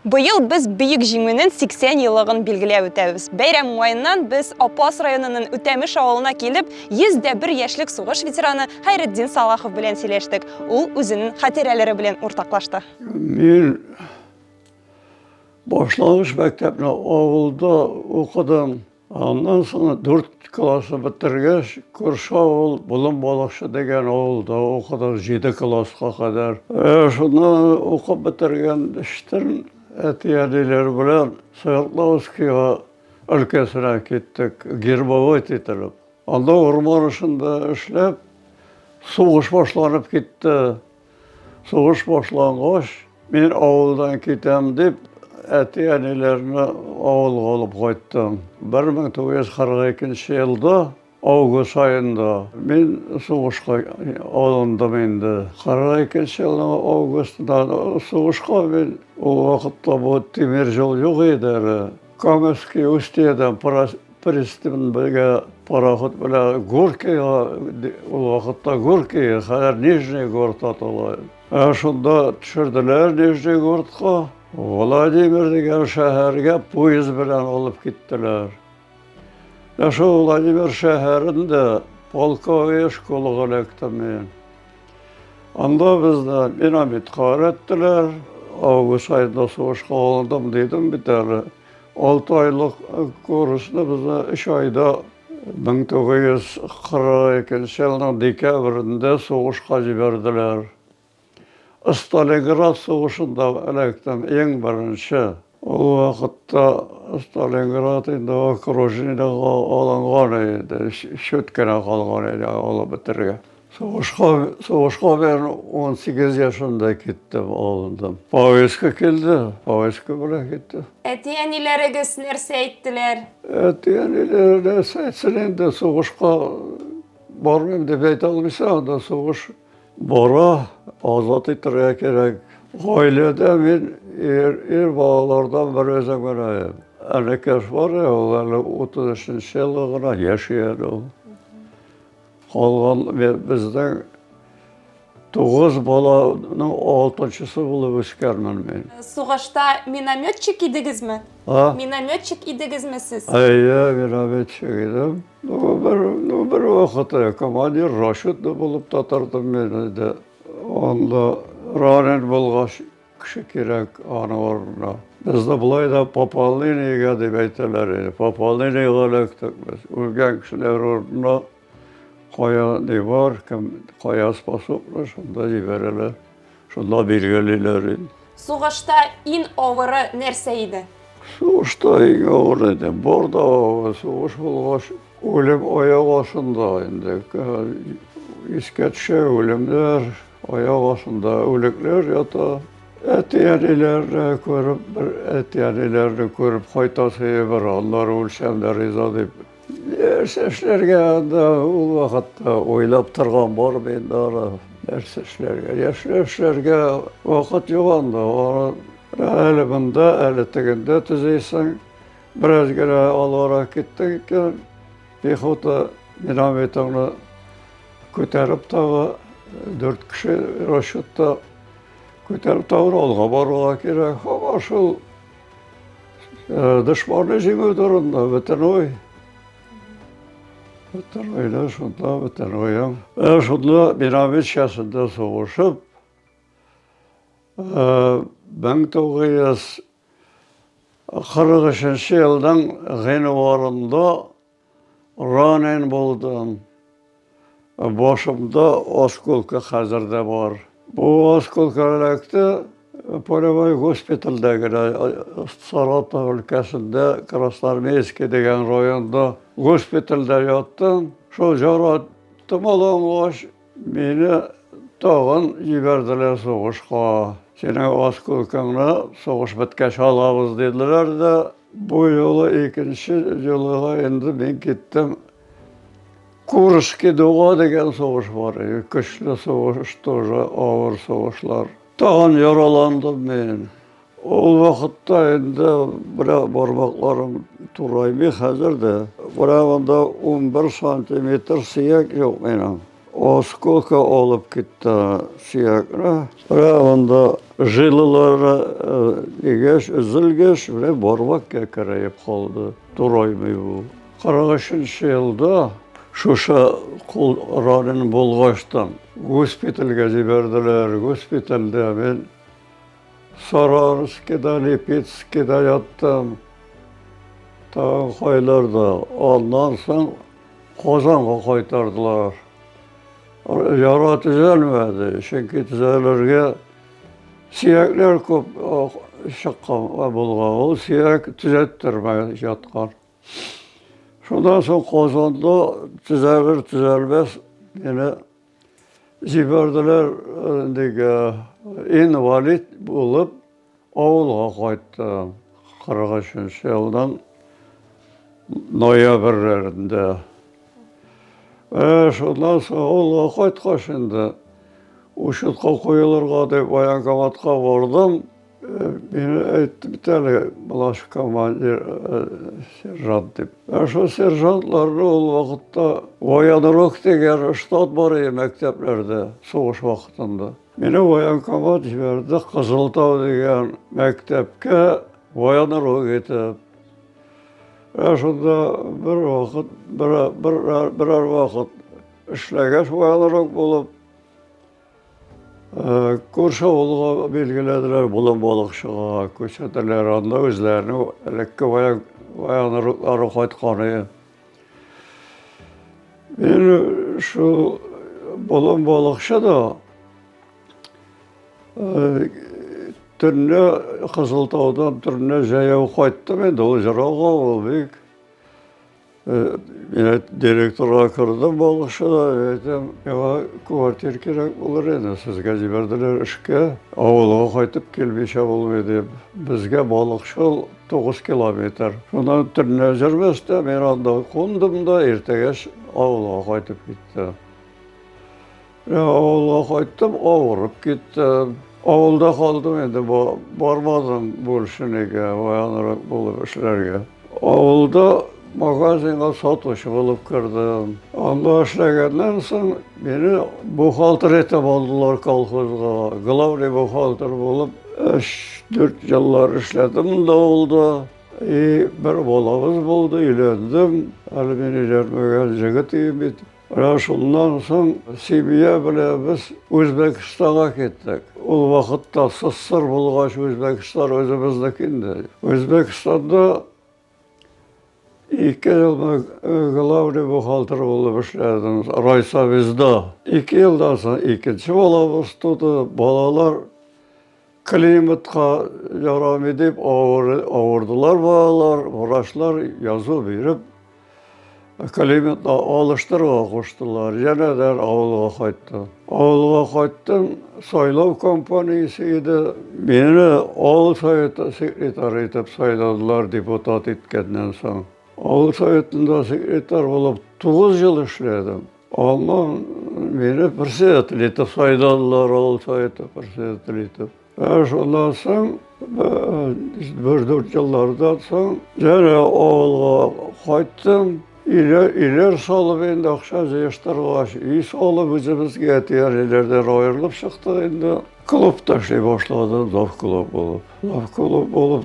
Быел без Бөек Җиңүнен 80 елыгын билгеләп үтәбез. Бәйрәм уңаеннан без Апас районынын Үтәмеш авылына килеп, 100 дә бер яшьлек сугыш ветераны Хәйретдин Салахов белән сөйләштек. Ул үзенен хатирәләре белән уртаклашты. Мин башлангыч мәктәпне авылда укыдым. Аннан соң дүрт классы бетергәч, күрше авыл Болын Балыкчы дигән авылда укыдык, җиде класска кадәр. Шунда укып бетергән эчтән әти-әниләр белән Свердловскига өлкәсенә киттек, гербовод ителеп. Анда урман эшендә эшләп, сугыш башланып китте. Сугыш башлангач, мин авылдан китәм дип, әти-әниләрне авылга алып кайттым. 1942 елда август аенда мин сугышка алындым инде. 42 елның августында сугышка мин, ул вакытта бу тимер юл юк иде әле. Камышки устьедан пристань белгә пароход белән Горкига, ул вакытта Горкига, хәзер Нижний Город атала. Ә шунда төшерделәр Нижний Городка. Владимир дигән шәһәргә поезд белән алып киттеләр. Ә шул Владимир шәһәрендә полковой школага эләктем мин. Анда безне динамитка өйрәттеләр. Август айында сугышка алдым дидем бит әле. Алты айлык курсны безне өч айда 1942 елның декабрендә сугышка җибәрделәр. Сталинград сугышында эләктем, иң беренче. Ул вакытта Сталинград инде окружениегә алынган иде, чүт кенә калган иде алып бетерергә. Сугышка, сугышка мен 18 яшында киттем, алындым. Повестка килде, повестка белән киттем. Әти-әниләрегез нәрсә әйттеләр? Әти-әниләр нәрсә әйтсен инде, сугышка бармыйм дип әйтә алмыйсың, анда сугыш Бара, азат итәргә кирәк. Гаиләдә мин ир, ир балалардан бер үзем генә. Әнекәш бар, ул әле 33 елы гына яши әле ул. Калган безнең Тугыз баланың алтынчысы булып үскәнмен мин. Сугышта минометчик идегезме? А? Минометчик идегезме сез? Әйе, минометчик идем. Ну, бер, ну, бер вакыты командир Рашидны булып та тордым мен инде. Анда ранен булгач кеше кирәк аның урынына. Бездә болай да пополнениегә дип әйтәләр инде. Пополнениегә эләктек без. Үлгән кешеләр урынына кая ни бар, кем, кая способны, шунда җибәрәләр. Шунда билгелиләр инде. Сугышта ин авыры нәрсә иде? Сугышта иң авыр иде. Бар да авыр сугыш булгач, үлем аяк астында инде. Искә төшә үлемнәр, аяк астында үлекләр ята. Әти-әниләрне күреп, бер әти-әниләрне күреп кайтасы бер, аннары үлсәм дә риза дип Нәрсә эшләргә анда ул вакытта уйлап торган бар бит ара. Нәрсә эшләргә? Яшьләр эшләргә вакыт юк анда. Әле монда, әле тегендә төзисең. Бераз генә алгара киттең икән, пехота динамитыңны күтәреп тагы дүрт кеше расчетта күтәреп тагы алга барырга кирәк. Һаман шул Э, дошманны җиңү турында бөтен ой. Бөтен ойда шунда бөтен уем. Э, шунда Мировичкасында сугышып, э, мең тугыз йөз кырык өченче елның гыйнварында Ранен булдым. Башымда осколка хәзер дә бар. Бу осколка эләкте полевой госпитальдә генә Саратов өлкәсендә Красноармейский дигән районда госпитальдә яттым. Шул җара томалангач, Мине тагын җибәрделәр сугышка. Синең осколкыңны сугыш беткәч алабыз, диделәр дә, бу юлы икенче җылыга инде мин киттем. Курский дуга дигән сугыш бар иде, көчле сугыш, тоже авыр сугышлар. Тагын яраландым мин. Ул вакытта инде бра бармакларым тураймый хәзер дә. Барабанда 11 сантиметр сөяк юк минем. Осколка алып китте сөякне. Барабанда жилылары дигәч, э, өзелгәч, менә бармак кәкерәеп калды. Тураймый бу. 43 елда шушы кул ранен булгачтан госпитальгә җибәрделәр. Госпитальдә мин Саранскида, Липецкида яттым. Тагын кайларда. Аннан соң Казанга кайтардылар. Яра төзәлмәде, чөнки төзәлергә сөякләр күп чыккан булган. Ул сөяк төзәттермәй яткан. Шуннан соң Казанда төзәлер-төзәлмәс, янә Җибәрделәр, диге, инвалид булып авылга кайттым. 43 елдан ноябрьләрендә. Шуннан соң авылга кайткач инде, учетка куелырга дип военкоматка бардым. Мин әйтте бит әле, Блаш командир, сержант дип. Ә шул сержантларны ул вакытта военрук дигән штат бар иде мәктәпләрдә, сугыш вакытында. Мине военкомат җибәрде Кызылтау дигән мәктәпкә военрук итеп. Ә шунда бер вакыт, бер, бер, берәр вакыт эшләгәч военрук булып, Э, күрше авылга билгеләделәр болын балыкчыга күрсәтәләр анда үзләренең элекке баянрыклары кайтканы мин шул болын балыкчы да э, төнлә кызылтаудан төнлә жаяу кайттым инде ул жырау авыл бик Менә директорга кердем балыкчыда, әйтәм, миңа квартир кирәк булыр иде, сезгә җибәрделәр эшкә, авылга кайтып килмичә булмый дип. Безгә балыкчыл тугыз километр. Шуннан төнлә җырмәстә мин анда кундым да, иртәгәч авылга кайтып киттем. Авылга кайттым, авырып киттем. Авылда калдым инде, бармадым Буршинеге, аянрак булып эшләргә. Авылда магазинга сатучы булып кердем. Анда эшләгәннән соң мине бухгалтер итеп алдылар колхозга. Главный бухгалтер булып 3-4 еллар эшләдем да авылда. И бер балабыз булды, өйләндем. Әле мин өйләнмәгән җегет бит. Менә шуннан соң семья белән без Үзбәкстанга киттек. Ул вакытта СССР булгач, Үзбәкстан үзебезнеке инде. Үзбәкстанда ике ел главный бухгалтер булып эшләдем, райсовезда. Ике елдан соң икенче балабыз туды, балалар Климатка ярамый дип авырдылар балалар, врачлар язу биреп, климатны алыштыруга куштылар. Янә дә авылга кайттым. Авылга кайттым, сайлау компаниясе иде. Мине авыл советы секретарь итеп сайладылар депутат иткәннән соң. Авыл советында секретарь булып 9 ел эшләдем. Аннан мине председатель итеп сайладылар, авыл советы председатель итеп. Ә шуннан соң бер дүрт еллардан соң җәнә авылга кайттым. Илер, илер салып инде акча җыештыргач, өй салып үзебезгә тияриләрдән аерылып чыктык инде. Клубта эшли башладым, зав клуб булып. Зав клуб булып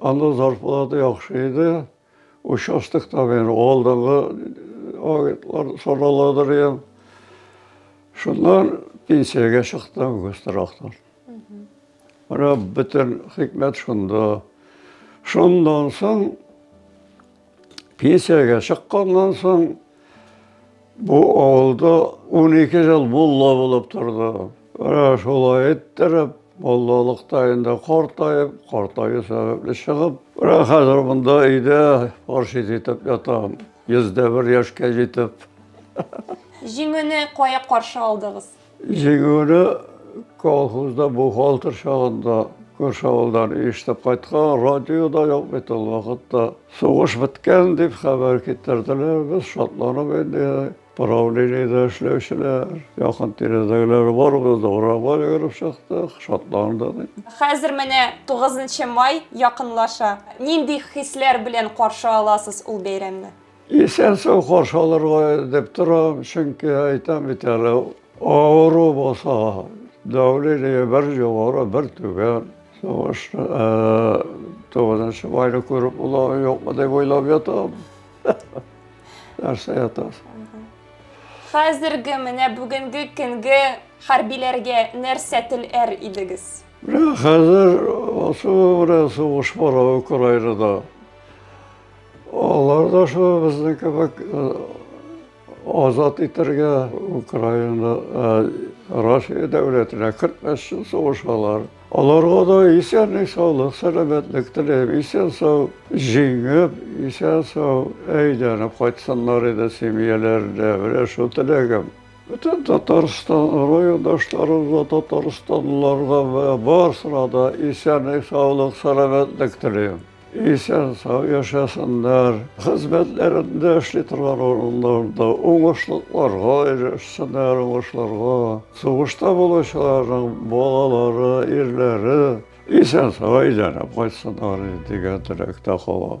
Анда зарплата яхшы иде. Участокта мен алдынгы агентлар саналадыр я. Шуннан пенсиягә чыктым Гострахтан. Менә бөтен хикмәт шунда. Шундан соң Пенсиягә чыкканнан соң бу авылда 12 ел мулла булып торды. Менә шулай иттереп, муллалыкта инде картаеп, картаю сәбәпле чыгып, менә хәзер монда өйдә паршит итеп ятам. 101 яшькә җитеп. Җиңүне кая каршы алдыгыз? Җиңүне колхозда бухгалтер чагында күрше авылдан ишетеп кайткан, радиода юк бит ул вакытта. Сугыш беткән дип хәбәр китерделәр, без шатланып инде правлениедә эшләүчеләр, якын тирәдәгеләр барыбыз да урамга йөгереп чыктык, шатландык. Хәзер менә 9 май якынлаша. Нинди хисләр белән каршы аласыз ул бәйрәмне? Исән-сау каршы алырга дип торам, чөнки әйтәм бит әле, авыру булса, давление бер югары, бер түбән. Сугышны, тугызынчы майны күреп була, юкмы дип уйлап ятам. Нәрсә ятасың? Хәзерге менә бүгенге көнге хәрбиләргә нәрсә теләр идегез? Менә хәзер ошо менә сугыш бара Украинада. Алар да шул безнең кебек э, азат итәргә Украина, э, Россия дәүләтенә 45 ел сугышалар. Аларга да исәнлек, саулык, сәламәтлек теләйм. Исән сау җиңеп, исән сау әйләнеп кайтсыннар иде семьяләренә. Менә шул теләгем. Бөтен Татарстан райондашларыбызга, татарстанлыларга барысына да исәнлек, саулык, сәламәтлек теләйм. Исән сау яшәсеннәр, хезмәтләрендә эшли торган урыннарында уңышлыкларга ирешсеннәр, уңышларга. Сугышта булучыларның балалары, ирләре исән сау әйләнеп кайтсыннар дигән теләктә калам.